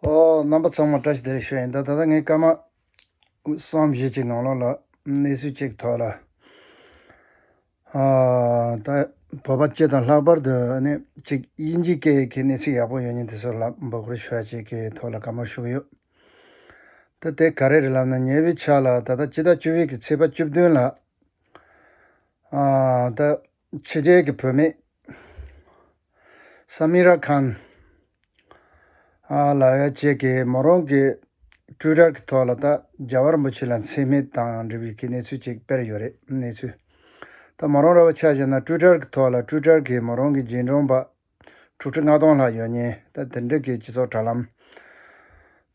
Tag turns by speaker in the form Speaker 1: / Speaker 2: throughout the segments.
Speaker 1: རྣམ་པ་ཚང་མ་བཀྲ་ཤིས་བདེ་ལེགས་ཤོག་ཡིན་ད་ད་ང་སྐར་མ་གསུམ་བཞི་གཅིག་ནང་ལོགས་ལ་གནས་ཚུལ་གཅིག་ཐོས་ལ། ད་བོད་པ་སྤྱི་དང་ལྷག་པར་དུ་ནི་གཅིག་དབྱིན་ཇི་སྐད་ཀྱི་གནས་ཚུལ་ཡག་པོ་ཡོད་ཉིན་དེ་ཚོ་ལ་འབོད་སྐུལ་ཞུ་བ་བྱེད་ཀྱི་ཐོག་ལ་དགའ་མོར་བཞུགས་ཡོད། ད་དེ་ག་རེ་རེད་ལབ་ན་ཉེ་བའི་ཆ་ལ་ད་ལྟ་སྤྱི་ཟླ་བཅུ་བཞི་གི་ཚེས་པ་བཅུ་བདུན་ལ། ད། ཕྱི་རྒྱལ་གྱི་བུད་མེད། Samira Khan། ལ་ཡ་བཅས་ཀྱིས་མོ་རང་གི Twitter གྱི་ཐོག་ལ་ད་རྒྱ་བ་རིན་པོ་ཆེ་ལ་འཚེ་མེད་དང་འབྲེལ་བའི་གནས་ཚུལ་ཅིག་སྤེལ་ཡོད་རེད་གནས་ཚུལ། ད་མོ་རང་ར་བ་ཆགས་བཞིན་ན Twitter གྱི་ཐོག་ལ Twitter གྱིས་མོ་རང་གི་རྗེས་འབྲང་པ་དྲུག་ཁྲི་ལྔ་སྟོང་ལྷག་ཡོད་ཉེན། ད་དེ་འབྲེལ་གྱི་སྤྱི་ཚོགས་དྲ་ལམ་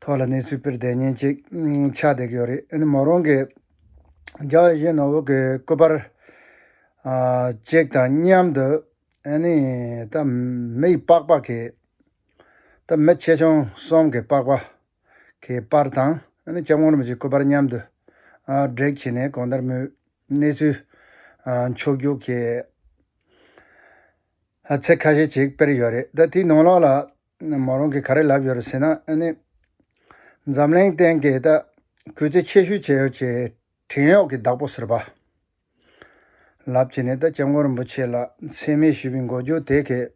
Speaker 1: ཐོག་ལ་གནས་ཚུལ་སྤེལ་བསྡད་ཉེན་ཅིག་ཆགས་བསྡད་ཀྱི་ཡོད་རེད། ཨ་ནི་མོ་རང་གིས་རྒྱ་བོད་གཞན་ནོར་བུ་གྱི་སྐུ་པར་ཅིག་དང་མཉམ་དུ། ཨ་ནི་ད་མི་ཡི་པགས་པ་གི། ད་མི་ཆེ་ཆུང་གསུམ་གྱི་པགས་པ་གི་པར་དང། ཨ་ནི་སྐྱབས་དགོངས་རིན་པོ་ཆེའི་སྐུ་པར་མཉམ་དུ་བསྒྲིགས་བྱས་ནས་གང་ལྟར་མོའི་གནས་ཚུལ་ཕྱོགས་རྒྱུགས་བྱས། ཚིག་ཁ་ཤས་ཅིག་དཔེར་ཡོད་རེད་ད་དེའི་ནང་ལགས་ལ། མོ་རང་གིས་ག་རེ་ལབ་ཡོད་རེད་ཟེར་ན་ཨ་ནི། འཛམ་གླིང་སྟེང་གི་ད་གུས་ཚིག་ཆེ་ཤོས་བྱས་ཡོད་ཅེས་བྲན་གཡོག་གི་བདག་པོ་ཟེར་བ། ལབ་ཀྱི་ནི་ད་སྐྱབས་མགོན་རིན་པོ་ཆེ་ལ་མཚན་སྨད་ཞུས་པའི་འགོ་རྒྱུགས་དེ་གས།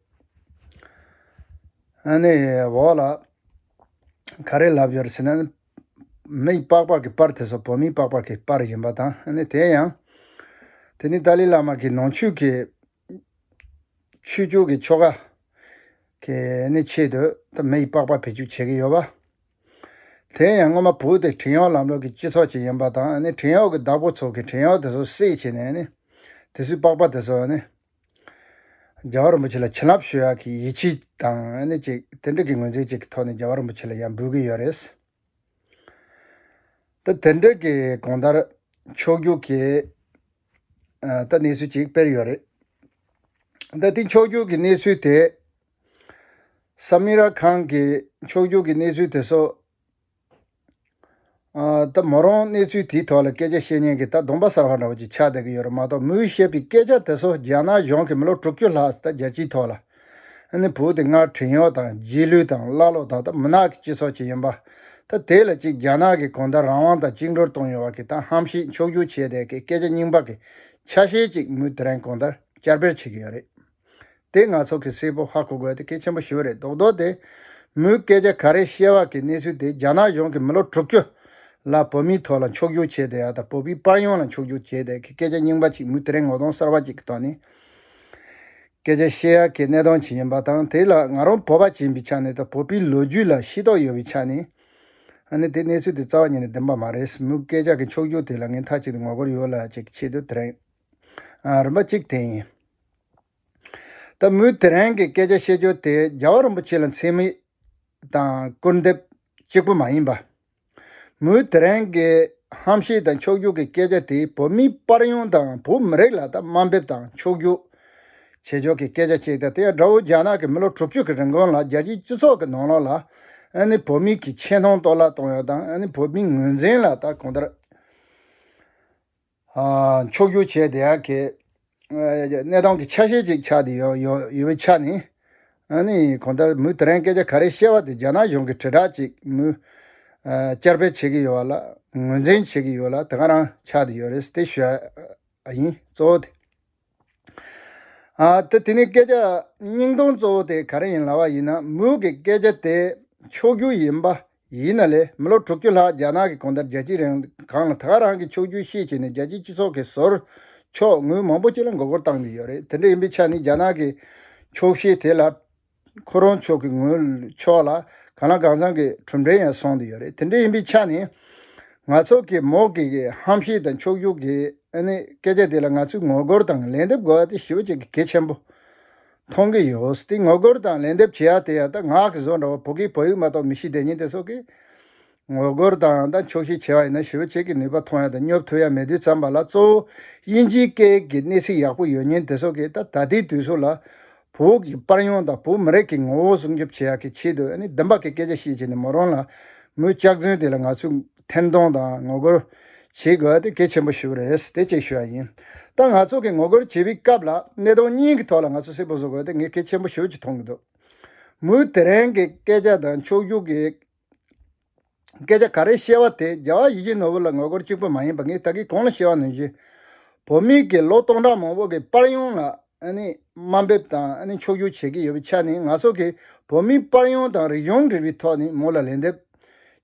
Speaker 1: ཨ་ནི། འོ་ལ། ག་རེ་ལབ་ཡོད་རེད་ཟེར་ན་ནི། མི་ཡི་པགས་པགས་ཀྱི་པར་དེ་ཚོ་བོད་མིའི་པགས་པགས་ཀྱི་པར་ཡིན་པ་དང་ཨ་ནི་དེ་ཡང། དེ་ནི་ཏཱ་ལའི་བླ་མ་གིས་ནང་ཆོས་ཀྱི་ཆོས་རྒྱུད་ཀྱི་ཆོ་ག། གི་ནི་ཆེད་དུ་ད་མི་ཡི་པགས་པ་བེད་སྤྱོད་བྱེད་ཀྱི་ཡོད་པ། དེ་ཡང་སྔོན་མ་བོད་དེ་བྲན་གཡོག་ལམ་ལུགས་ཀྱི་སྤྱི་ཚོགས་ཅིག་ཡིན་པ་དང་ནི་བྲན་གཡོག་གི་བདག་པོ་ཚོ་གིས་བྲན་གཡོག་དེ་ཚོ་སྲེག་བྱས་ནས་ནི། དེ་ཚོའི་པགས་པ་དེ་ཚོ་ནི། རྒྱལ་བ་རིན་པོ་ཆེ་ལ་བྱིན་རླབས་ཞུ་ཡག་གི་ཡིད་ཆེས་དང་ནི་ཅིག་དེ་འདྲ་གི་ངོས་འཛིན་ཅིག་གི་ཐོག་ནས་རྒྱལ་བ་རིན་པོ་ཆེ་ལ་ཡང་འབུལ་གྱི་ཡོད་རེད། ད་དེ་འདྲ་གི་གོང་ལྟར། ཆོས་རྒྱུད་ཀྱི། ད་གནས་ཚུལ་གཅིག་དཔེར་ཡོད་རེད། ད་དེ་འཁྱོག་འཁྱོག་གི་གནས་ཚུལ་དེ། ས་མི་ར་ཁང་གི་འཁྱོག་འཁྱོག་གི་གནས་ཚུལ་དེ་ཚོ། ད་མོ་རང་གནས་ཚུལ་དེའི་ཐོག་ལ་སྐད་ཆ་བཤད་ཉན་གི་ད་གདོང་པ་གསར་བ་འདྲ་བོ་ཅིག་ཆགས་བསྡད་ཀྱི་ཡོད་རེད་མ་གཏོགས་མོས་བཤད་པའི་སྐད་ཆ་དེ་ཚོ་རྒྱ་ནག་གཞུང་གིས་མི་ལོ་དྲུག་ཅུ་ལྷག་ད་རྒྱལ་སྤྱིའི་ཐོག་ལ། ནི་བུ་དེ་སྔར་བྲན་གཡོག་དང་རྗེས་ལུས་དང་ཀླ་ཀློ་དག་དང་མུན་ནག་གི་སྤྱི་ཚོགས་ཅིག་ཡིན་པ། ད་དེ་ལ་གཅིག་རྒྱ་ནག་གིས་གོང་ད་རང་དབང་དང་བཅིངས་འགྲོར་གཏོང་ཡོང་བ་གི་ད་ཧམ་ཤིག་མཆོག་རྒྱུག་བྱས་བསྡད་གི་སྐད་ཆ་རྙིང་པ་གི་ཆ་ཤས་ཅིག་མུ་དེ་རན་གོང་ད་བསྐྱར་སྤེལ་བྱེད་གི་ཡོད་རེད། དེ་ང་ཚོ་གི་སེ་པོ་ཧ་གོ་དགོས་དེ་གལ་ཆེན་པོ་ཞིག་རེད་མདོག་མདོག་དེ། མུའི་སྐད་ཆ་ག་རེ་བཤད་བ་གི་གནས་ཚུལ་དེ་རྒྱ་ནག་གཞུང་གི་མི་ལོ་དྲུག་ཅུ་ལ་བོད་མིའི་ཐོག་ལ་མཆོག་རྒྱུག་བྱས་བསྡད་ཡ་ད་བོད་པའི་པར་ཡོངས་ལ་མཆོག་རྒྱུག་བྱས་བསྡད་གི་སྐད་ཆ་རྙིང་པ་ཅིག་མུ་དེ་རན་ངོ་གདོང་གསར་བ་ཅིག་གི་ཐོག་ནས། སྐད་ཆ་བཤད་ཡག་གི་གནས་སྟངས་ཇི་ཡིན་པ་དང་དེ་ལ་ང་རང་བོད་པ་ཅན་པའི་ཆ་ནས་དང་བོད་པའི་ལོ་རྒྱུས་ལ་ཤེས་རྟོགས་ཡོད་པའི་ཆ་ནས་ཨ་ནི་དེ་གནས་ཚུལ་དེ་རྩ་བ་ཉིད་ནས་བདེན་པ་མ་རེད་སེམས་མུག་སྐད་ཆ་གི་འཁྱོག་འཁྱོག་དེ་ལ་ངས་མཐའ་གཅིག་ཏུ་ངོ་རྒོལ་ཡོད་ལ་ཅེས་ཆེད་དུ་དེ་རིང་རིམ་པ་གཅིག་དེ་ཡིན། ད་མུས་དེ་རིང་གི་སྐད་ཆ་བཤད་རྒྱུ་དེ་རྒྱལ་བ་རིན་པོ་ཆེ་ལ་མཚན་དམིགས་དང་སྐུར་འདེབས་གཅིག་པུ་མ་ཡིན་པ། མུའུ་དེ་རན་གྱི་ཧམ་བཤད་དང་འཁྱོག་རྒྱུག་གི་སྐད་ཆ་དེས་བོད་མིའི་པར་ཡོང་དང་བོད་མི་རིགས་ལ་ད་དམའ་འབེབས་དང་འཁྱོག་རྒྱུག་བྱེད་ཕྱོགས་ཀྱི་སྐད་ཆ་གཅིག་དང་དེ་ཡང་དགྲ་བོ་རྒྱ་ནག་གིས་མི་ལོ་དྲུག་ཅུ་གི་རིང་གོང་ལ་རྒྱལ་སྤྱིའི་སྤྱི་ཚོགས་ཀྱི་ནང་ལོགས་ལ་ནི་བོད་མི་གྱི་ཆེ་མཐོང་གཏོར་བརླག་གཏོང་ཡོད་དང་ནི་བོད་མིའི་ངོས་འཛིན་ལ་ད་གོང་ལྟར། ཕྱོགས་སྒྱུར་བྱས་དེ་ཡར་ཁེ། གནས་སྟངས་ཀྱི་ཆ་ཤས་ཅིག་ཆགས་ཡོད་ཡོད་པའི་ཆ་ནས། ཨ་ནི་གོང་ལྟར་མུས་དེ་རིང་སྐད་ཆ་ག་རེ་བཤད་པ་དེ་རྒྱ་ནག་གཞུང་གི་དྲིལ་བསྒྲགས་ཅིག་མུས། བསྐྱར་སྤེལ་བྱེད་ཀྱི་ཡོད་པ་ལ་ངོས་འཛིན་བྱེད་ཀྱི་ཡོད་ལ་དེ་ག་རང་ཆགས་ཡོད་རེད་དེ་ཤོད་ཨ་ཡིན་གཙོ་བོ་དེ། ཏེ། དེ་ནི་སྐད་ཆ་སྙིང་སྟོང་གཙོ་བོ་དེ་ག་རེ་ཡིན་ལབ་པ་ཡིན་ན་མུའུ་གི་སྐད་ཆ་དེ་ཕྱོགས་བསྒྱུར་ཡིན་པ་ཡིན་ན་ལས་མི་ལོ་དྲུག་ཅུ་ལྷག་རྒྱ་ནག་གི་གོང་ལྟར་རྒྱལ་སྤྱིའི་རང་གང་ལ་དགའ་རང་གི་ཕྱོགས་བསྒྱུར་ཤེས་བྱས་ནས་རྒྱལ་སྤྱིའི་སྤྱི་ཚོགས་ཀྱི་ཟོར་ཕྱོགས་ངུས་མང་པོ་ཅིག་ལ་མགོ་སྐོར་བཏང་གི་ཡོད་རེད་དེ་འདྲ་ཡིན་པའི་ཆ་ནི་རྒྱ་ནག་གི་ཕྱོགས་ཞེན་དེ་ལ། ཁོ་རང་ཕྱོགས་ཀྱི་ངོས་ཕྱོགས་ལ་གང་ལ་གང་བཟང་གི་གྲུབ་འབྲས་ཡང་སོང་དུ་ཡོད་རེད་དེ་འདྲ་ཡིན་པའི་ཆ་ནས། ང་ཚོ་གིས་མོ་གེ་གི་ཧམ་བཤད་དང་འཁྱོག་བརྗོད་ཀྱི་སྐད་ཆ་དེ་ལ་ང་ཚོས་ངོ་རྒོལ་དང་ལན་འདེབས་དགོས་པ་དེ་ཞི་བ་གཅིག་གི་གལ་ཆེན་པོ་མཐོང་གི་ཡོད་དེ་ངོ་རྒོལ་དང་ལན་འདེབས་བྱེད་ཡ་དེ་ཡང་ད་ངག་གི་བཟོ་འདྲ་བ་བོད་སྐད་བོད་ཡིག་མ་གཏོགས་མི་ཤེས་བདེན་གཉིས་དེ་སོགས་ཀྱི་ངོ་རྒོལ་དང་དང་ཆོག་ཤེས་ཆེ་བ་ཡིན་ན་ཞི་བ་བྱེད་ཀྱི་ནུས་པ་མཐོང་ཡ་དང་སྙོབ་ཐུབ་ཡ་མེད་དུས་ཙམ་པ་ལ་གཙོ་བོ་དབྱིན་ཇིའི་སྐད་ཀྱི་གནས་ཚིག་ཡག་པོ་ཡོད་ཉེན་དེ་སོགས་ཀྱིས་ད་ལྟའི་དུས་སུ་ལ་བུག་གི་པར་ཡོང་དང་བོད་མི་རིགས་ཀྱི་ངོ་བོ་སྲུང་སྐྱོབ་བྱེད་ཡག་གི་ཆེད་དུ་ནི་བདེན་པ་གི་སྐད་ཆ་བཤད་བྱས་ནས་མོ་རང་ལ་མོའི་སྐྱག་རྫུན་དེ་ལ་ང་ཚོས་འཐེན་གཏོང་དང་ངོ་རྒོལ་བྱེད་དགོས་པ་དེ་གལ་ཆེན་པོ་ཞུ་བ་རེད་དེ་བཅས་ཞུ་བ་ཡིན་ད་ང་ཚོ་གི་ངོ་རྒོལ་བྱེད་པའི་སྐབས་ལ་གནས་སྟངས་གཉིས་ཀྱི་ཐོག་ལ་ང་ཚོ་གསལ་པོ་བཟོ་དགོས་དེ་ངས་གལ་ཆེན་པོ་ཞུ་ཅིག་མཐོང་གི་འདུག་མོའི་དེ་རིང་གི་སྐད་ཆ་དང་ཕྱོགས་རྒྱུགས་ཀྱི་སྐད་ཆ་ག་རེ་བཤད་བ་དེ་རྒྱལ་བ་ཡིད་བཞིན་ནོར་བུ་ལ་ངོ་རྒོལ་གཅིག་པུ་མ་ཡིན་པ་ངས་ད་གིས་གང་ལ་བཤད་བ་ནུས་ཞེས། བོད་མི་གིས་ལོ་སྟོང་ཕྲག་མང་བོ་གི་པར་ཡང་ལ་དམའ་འབེབས་དང་ཕྱོགས་བསྒྱུར་བྱེད་ཀྱི་ཡོད་པའི་ཆ་ནས་ང་སོགས་ཀྱིས་བོད་མིའི་པར་ཡང་དང་རིག་གཞུང་འབྲེལ་བའི་ཐོག་ནས་མོ་ལ་ལན་འདེབས་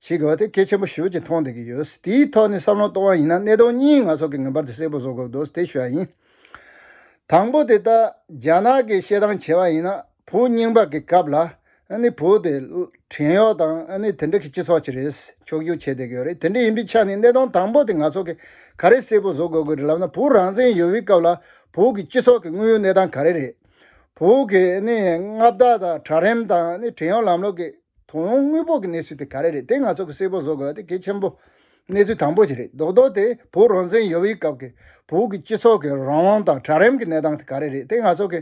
Speaker 1: བྱེད་དགོས་བ་དེ་གལ་ཆེན་པོ་ཞིག་བོད་ཀྱིས་མཐོང་བསྡད་ཀྱི་ཡོད། དེའི་ཐོག་ནས་བསམ་བློ་གཏོང་བ་ཡིན་ན་གནད་དོན་གཉིས་ང་སོགས་ཀྱིས་ངེས་པར་དུ་གསལ་པོ་བཟོ་དགོས་དོགས་ཟེར་ཤོད་ཡ་ཡིན། དང་པོ་དེ་ལྟར་རྒྱ་ནག་གིས་བཤད་སྟངས་བྱས་བ་ཡིན་ན་བུ་རྙིང་པ་གི་སྐབས་ལ་ནི་བུ་དེ་བྲན་གཡོག་དང་ནི་དེ་འདྲ་གི་སྤྱི་ཚོགས་ཀྱི་རེད་ཕྱོགས་སྒྱུར་བྱེད་བསྡད་ཀྱི་ཡོད་རེད་དེ་འདྲ་ཡིན་པའི་ཆ་ནས་གནས་སྟངས་དང་པོ་དེ་ང་ཚོ་གི་ག་རེ་གསལ་པོ་བཟོ་དགོས་ཀྱི་རེད་ལབ་ན་བུ་རང་བཙན་ཡོད་པའི་སྐབས་ལ་བུ་གི་སྤྱི་ཚོགས་ཀྱི་དངོས་ཡོད་གནས་སྟངས་ག་རེ་རེད། བུ་གི་ནི་མངའ་བདག་དང་གྲྭ་རིམ་དང་ནི་བྲན་གཡོག་ལམ་ལུགས་ཀྱི་དོ་ཡོང་དངོས་པོ་གི་གནས་ཚུལ་དེ་ག་རེ་རེད་དེ་ང་ཚོ་གི་གསལ་པོ་བཟོ་དགོས་པ་དེ་གལ་ཆེན་པོ་གནས་ཚུལ་དང་པོ་ཞིག་རེད་རྡོག་རྡོག་དེ་བུ་རང་བཙན་ཡོད་པའི་སྐབས་ཀྱི་བུ་གི་སྤྱི་ཚོགས་ཀྱི་རང་དབང་དང་གྲྭ་རིམ་གྱི་གནས་སྟངས་དེ་ག་རེ་རེད་དེ་ང་ཚོ་གི།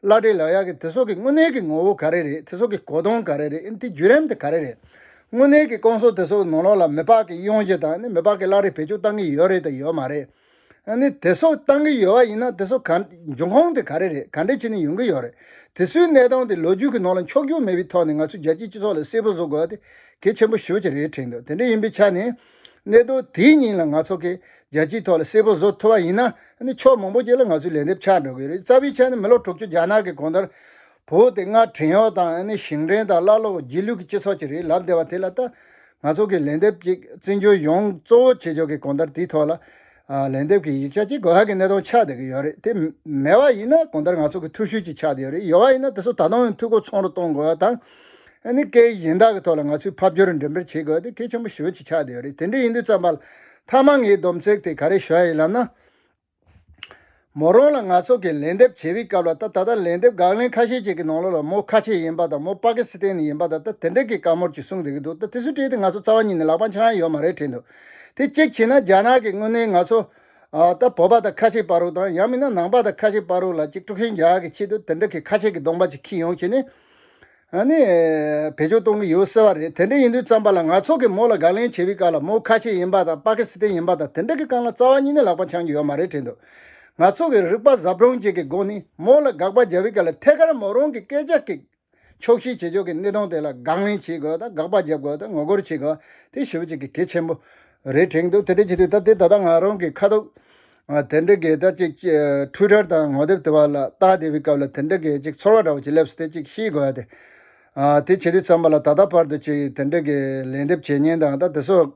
Speaker 1: བླ་བྲེ་ལགས་ཡག་གི་དེ་སོགས་ཀྱི་དངོས་གནས་ཀྱི་ངོ་བོ་ག་རེ་རེད་དེ་སོགས་ཀྱི་གོ་དོང་ག་རེ་རེད་ཨིན་དེ་བརྒྱུད་རེམ་དེ་ག་རེ་རེད། དངོས་གནས་ཀྱི་སྐོང་སོགས་དེ་སོགས་ནོར་ལོག་ལ་མི་ལྤགས་ཀྱི་དབྱུང་བཞེད་དང་ནི་མི་ལྤགས་ཀྱི་བླ་རེ་བེད་སྤྱོད་བཏང་གི་ཡོད་རེད་དང་ཡོད་མ་རེད། ཨ་ནི་དེ་སོགས་བཏང་གི་ཡོད་བ་ཡིན་ན་དེ་སོགས་ག། འབྱུང་ཁོངས་དེ་ག་རེ་རེད་ག་འདྲས་བྱེད་ནི་ཡོང་གི་ཡོད་རེད། དེ་སུའི་གནས་སྟངས་དེ་ལོ་རྒྱུས་ཀྱི་ནང་ལ་འཁྱོག་རྒྱུག་མེད་པའི་ཐོག་ནས་ང་ཚོ་རྒྱལ་སྤྱིའི་སྤྱི་ཚོགས་ལ་གསལ་པོ་བཟོ་དགོས་བ་དེ་གལ་ཆེན་པོ་ཤོས་ཅིག་རེད་དྲན་འདུག་དེ་འདྲས་ཡིན་པའི་ཆ་ནས། གནད་དོན་དེའི་སྙིང་ལ་ང་ཚོ་གིས་རྒྱལ་སྤྱིའི་ཐོག་ལ་གསལ་པོ་བཟོ་ཐུབ་པ་ཡིན་ན། ཕྱོགས་མང་པོ་བཅས་ལ་ང་ཚོས་ལན་འདེབས་ཆགས་འགྲོ་གི་རེད། རྩ་བའི་ཆ་ནས་མི་ལོ་དྲུག་ཅུ་རྒྱ་ནག་གི་གོང་དར་བུ་དེ་སྔར་བྲན་གཡོག་དང་ཞིང་བྲན་དང་ཀླ་ཀློ་རྗེས་ལུས་ཀྱི་སྤྱི་ཚོགས་ཅིག་རེད་ལབ་བསྡད་པ་དེ་ལ་ལྟ། ང་ཚོ་གིས་ལན་འདེབས་ཀྱིས་བཙན་བྱོལ་ཡོངས་གཙོ་བོ་བྱེད་ཕྱོགས་ཀྱི་གོང་དར་དེའི་ཐོག་ལ། ལན་འདེབས་ཀྱི་ཡིག་ཆ་གཅིག་གོ་ཧ་གི་གནས་སྟངས་ཆགས་བསྡད་ཀྱི་ཡོད་རེད་དེ་མེད་པ་ཡིན་ན་གོང་ལྟར་ང་ཚོ་གི་ཐུགས་ཤུལ་གྱིས་ཆགས་བསྡད་ཡོད་རེད་ཡོད་པ་ཡིན་ན་དེ་ཚོ་ད་དུང་འཐུས་སྒོ་ཚང་རུ་གཏོང་དགོས་བ་དང། ནི་སྐད་གཞན་དག་གི་ཐོག་ལ་ང་ཚོས་ཕབ་སྒྱུར་འགྲེམས་སྤེལ་བྱེད་དགོས་དེ་གལ་ཆེན་པོ་ཤུལ་གྱིས་ཆགས་བསྡད་ཡོད་རེད་དེ་འདྲ་ཡིན་དུས་བརྩམས་པ་ལ་མཐའ་མ་ངའི་སྡོམ་ཚིག་དེ་ག་རེ་ཞུ་ཡ་ཡིན་ལབ་ན། མོ་རང་ལ་ང་ཚོ་གིས་ལན་འདེབས་བྱེད་པའི་སྐབས་ལ་ད་ད་ལྟ་ལན་འདེབས་དགག་ལན་ཁ་ཤས་ཅིག་གི་ནང་ལོགས་ལ་མོ་ཁ་ཆེ་ཡིན་པ་དང་མོ་པ་ཀི་སི་ཐན་ནས་ཡིན་པ་ད་ལྟ་དེ་འདྲ་གི་བཀའ་མོར་ཅིག་གསུངས་བསྡད་ཀི་འདུག་ད་དེ་ཚོ་བྲིས་ཏེ་ང་ཚོ་རྩ་བ་ཉིད་ནས་ལག་པ་འཆང་ཡ་ཡོད་མ་རེད་དྲན་འདུག་དེ་གཅིག་བྱས་ན་རྒྱ་ནག་གི་དངོས་གནས་ང་ཚོ་ད་བོད་པ་དང་ཁ་ཆེ་པ་རུ་དང་ཡང་མིན་ན་ནང་པ་དང་ཁ་ཆེ་པ་རུ་ལ་ཅིག་དཀྲུག་ཤིང་རྒྱག་གི་ཆེད་དུ་དེ་འདྲ་གི་ཁ་ཆེ་གི་གདོང་པ་ཅིག་ཁྱི་ཡོང་བྱས་ནས། ཨ་ནི། བེད་སྤྱོད་གཏོང་གི་ཡོད་ཟེར་བ་རེད་དེ་འདྲ་ཡིན་དུས་བརྩམས་པ་ལ་ང་ཚོ་གིས་མོ་ལ་དགག་ལན་བྱེད་པའི་སྐབས་ལ་མོ་ཁ་ཆེ་ཡིན་པ་དང་པ་ཀི་སི་ཐན་ཡིན་པ་དང་དེ་འདྲ་གི་སྐབས་ལ་རྩ་བ་གཉིས་ནས་ལག་པ་འཆང་གི་ཡོད་མ་རེད་དྲན་འདུག་ང་ཚོ་གིས་རིག་པ་གཟབ་དྲོང་བཅས་ཀྱི་སྒོ་ནས་མོ་ལ་དགག་པ་རྒྱབ་པའི་སྐབས་ལ་ཐད་ཀར་མོ་རང་གི་སྐད་ཆ་གིས་ཕྱོགས་བཞིའི་བྱེད་ཕྱོགས་ཀྱི་གནས་སྟངས་དེ་ལ་དགག་ལན་བྱེད་དགོས་དང་དགག་པ་རྒྱབ་དགོས་དང་ངོ་རྒོལ་བྱེད་དགོས་དེ་ཞིབ་བྱེད་ཀྱི་གལ་ཆེན་པོ་རེད་དྲན་འདུག་དེ་འདྲ་བྱེད་དུས་ད་ལྟའི་ད་ལྟ་ང་རང་གིས་ཁ་ཐུག། དེ་འདྲའི་གས་སྟབས་ཅིག་འཕྲུལ་དར་དང་ངོ་དེབ་དེ་བར་ལ་རྟགས་བསྡད་པའི་སྐབས་ལ་དེ་འདྲའི་གས་ཅིག་ཚོར་བ་འདྲ་བོ་ཅིག་སླེབས་སོ་དེ་ཅིག་ཤེས་དགོས་ཡ་དེ། དེ་བྱེད་དུས་ཚང་མ་ལ་ད་ལྟ་བར་དུ་ཅིག་དེ་འདྲའི་གས་ལན་འདེབས་བྱེད་ཉེན་དང་ད་དེ་སོགས་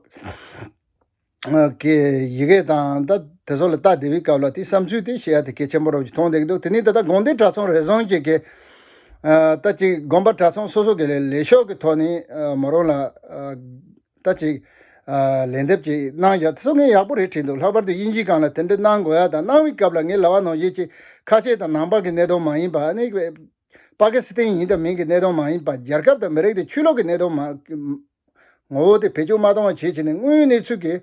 Speaker 1: ཀྱི་ཡི་གེ་དང་ད་དེ་སོགས་ལ་རྟགས་བསྡད་པའི་སྐབས་ལ་དེའི་བསམ་ཚུལ་དེ་ཤེས་ཡ་དེ་གས་ཆེན་པོ་རོ་བཅུ་མཐོང་བསྡད་ཀྱི་འདུག་དེ་ནས་ད་ལྟ་དགོན་སྡེ་གྲྭ་ཚང་རེ་ཟུང་གི་གས་སྟབས་ཅིག་དགོན་པ་གྲྭ་ཚང་སོ་སོ་གི་ལས་ཤོག་གི་ཐོག་ནས་མོ་རང་ལ། ལྟ་ཅིག། ལན་འདེབས་ཅིག་གནང་བཞག་སྟེ་སྲོལ་ངན་ཡག་པོ་རེ་བྲིས་འདུག་ལྷག་པར་དུ་དབྱིན་ཇིའི་སྒང་ལ་དེ་འདྲ་གནང་དགོས་ཡག་དང་གནང་བའི་སྐབས་ལ་ངའི་ལྭ་བ་ནང་བཞིན་གཅིག་ཁ་ཆེ་དང་ནང་པགས་ཀྱི་གནད་དོན་མ་ཡིན་པ་ནི། པ་ཀི་སི་ཐན་ཡིན་དང་མིན་གྱི་གནད་དོན་མ་ཡིན་པ་རྒྱལ་ཁབ་དང་མི་རིགས་དེ་ཆོས་ལུགས་ཀྱི་གནད་དོན་མ། ངོ་བོ་དེ་བེད་སྤྱོད་མ་གཏོང་བ་བྱེད་བྱེད་ནས་དངོས་ཡོད་གནས་ཚུལ་གྱི།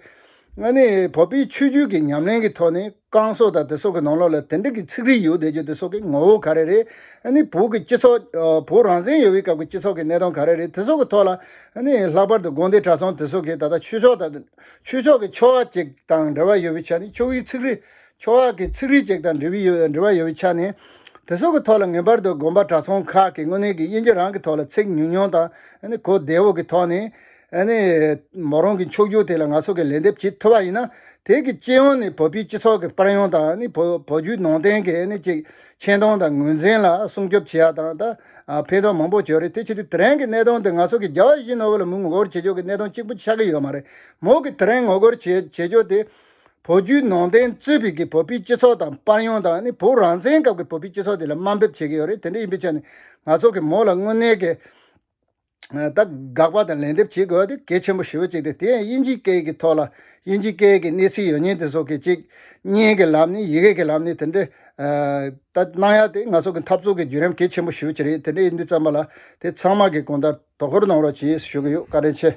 Speaker 1: ལྔ་ནི། བོད་པའི་ཆོས་བརྒྱུད་ཀྱི་ཉམས་ལེན་གྱི་ཐོག་ནས་བསྐང་གསོ་དང་དེ་སོགས་ཀྱི་ནང་ལོགས་ལ་དེ་འདྲ་གི་ཚིག་རིས་ཡོད་བསྡད་རྒྱུ་དེ་སོགས་ཀྱི་ངོ་བོ་ག་རེ་རེད། ཨ་ནི་བོད་ཀྱི་སྤྱི་ཚོགས། བོད་རང་བཙན་ཡོད་པའི་སྐབས་ཀྱི་སྤྱི་ཚོགས་ཀྱི་གནས་སྟངས་ག་རེ་རེད་དེ་སོགས་ཀྱི་ཐོག་ལ། ཨ་ནི་ལྷག་པར་དུ་དགོན་སྡེ་གྲྭ་ཚང་དེ་སོགས་ཀྱིས་ད་ལྟ་ཆོས་ཕྱོགས་དང། ཆོས་ཕྱོགས་ཀྱི་ཆོ་ག་ཅིག་དང་འབྲེལ་བ་ཡོད་པའི་ཆ་ནས་ཆོ་གའི་ཚིག་རིས། ཆོ་ག་གི་ཚིག་རིས་ཅིག་དང་འབྲེལ་བའི་ཡོད་འབྲེལ་བ་ཡོད་པའི་ཆ་ནས། དེ་སོགས་ཀྱི་ཐོག་ལ་ངེས་པར་དུ་དགོན་པ་གྲྭ་ཚང་ཁག་གིས་དངོས་གནས་ཀྱི་དབྱིན་ཇི་རང་གི་ཐོག་ལ་ཚིག་ཉུང་ཉུང་དང། ཨ་ནི་གོ་བདེ་བོ་གི་ཐོག་ནས། ཨ་ནི། མོ་རང་གི་མཆོག་གྱུར་དེ་ལ་ང་ཚོ་གིས་ལན་འདེབས་བྱེད་ཐུབ་པ་ཡིན་ན། དེ་གི་སྤྱི་ཡོངས་ནས་བོད་པའི་སྤྱི་ཚོགས་ཀྱི་པར་ཡོང་དང་བོད་བརྒྱུད་ནང་བསྟན་གྱི་ཨ་ཅིག་ཆེ་མཐོང་དང་ངོས་འཛིན་ལ་སྲུང་སྐྱོབ་བྱེད་ཡག་དང་དང་ཕན་ཐོག་མང་པོ་བྱོས་རེད་དེ་ཕྱིར་དེ་རིང་གི་གནད་དོན་དེ་ང་ཚོ་གི་རྒྱ་བ་ཞིག་ནོ་བོ་ལ་མི་ངོ་རྒོལ་བྱེད་ཕྱོགས་ཀྱི་གནད་དོན་གཅིག་པུ་ཆགས་ཀྱི་ཡོད་མ་རེད་མོ་གི་དེ་རིང་ངོ་རྒོལ་བྱེད་བྱེད་ཕྱོགས་དེ། བོད་བརྒྱུད་ནང་བསྟན་གཙོས་པའི་གི་བོད་པའི་སྤྱི་ཚོགས་དང་པར་ཡོང་དང་ནི་བོད་རང་བཙན་སྐབས་ཀྱི་བོད་པའི་སྤྱི་ཚོགས་དེ་ལ་དམའ་འབེབས་བྱེད་ཀྱི་ཡོད་རེད་དེ་འདྲ་ཡིན་པའི་ཆ་ནས་ང་ཚོ་གི་མོ་ལ་དངོས་གནས་ཀྱི། ད་དགག་པ་དང་ལན་འདེབས་བྱེད་དགོས་པ་དེ་གལ་ཆེན་པོ་ཞེ་བོ་གཅིག་སྟེ་དེ་ཡང་དབྱིན་ཇིའི་སྐད་ཀྱི་ཐོག་ལ་དབྱིན་ཇིའི་སྐད་ཀྱི་གནས་ཚུལ་ཡོད་མྱེད་དེ་སོགས་ཀྱི་གཅིག་གཉིས་ཀྱི་ལམ་ནས་ཡི་གེ་ཀྱི་ལམ་ནས་དེ་འདྲའི་ལྟ་སྣང་ཡག་དེ་ང་ཚོ་གི་འཐབ་རྩོད་ཀྱི་བརྒྱུད་རིམ་གལ་ཆེན་པོ་ཞེ་བོ་གཅིག་རེད་དེ་འདྲའི་འདུས་བརྩམས་པ་ལ་དེ་ཚང་མ་གི་གོང་ལྟར་དོ་ཁུར་གནང་རོགས་བྱེད་ཞུ་གི་ཡོད་བཀའ་དྲིན་ཆེ།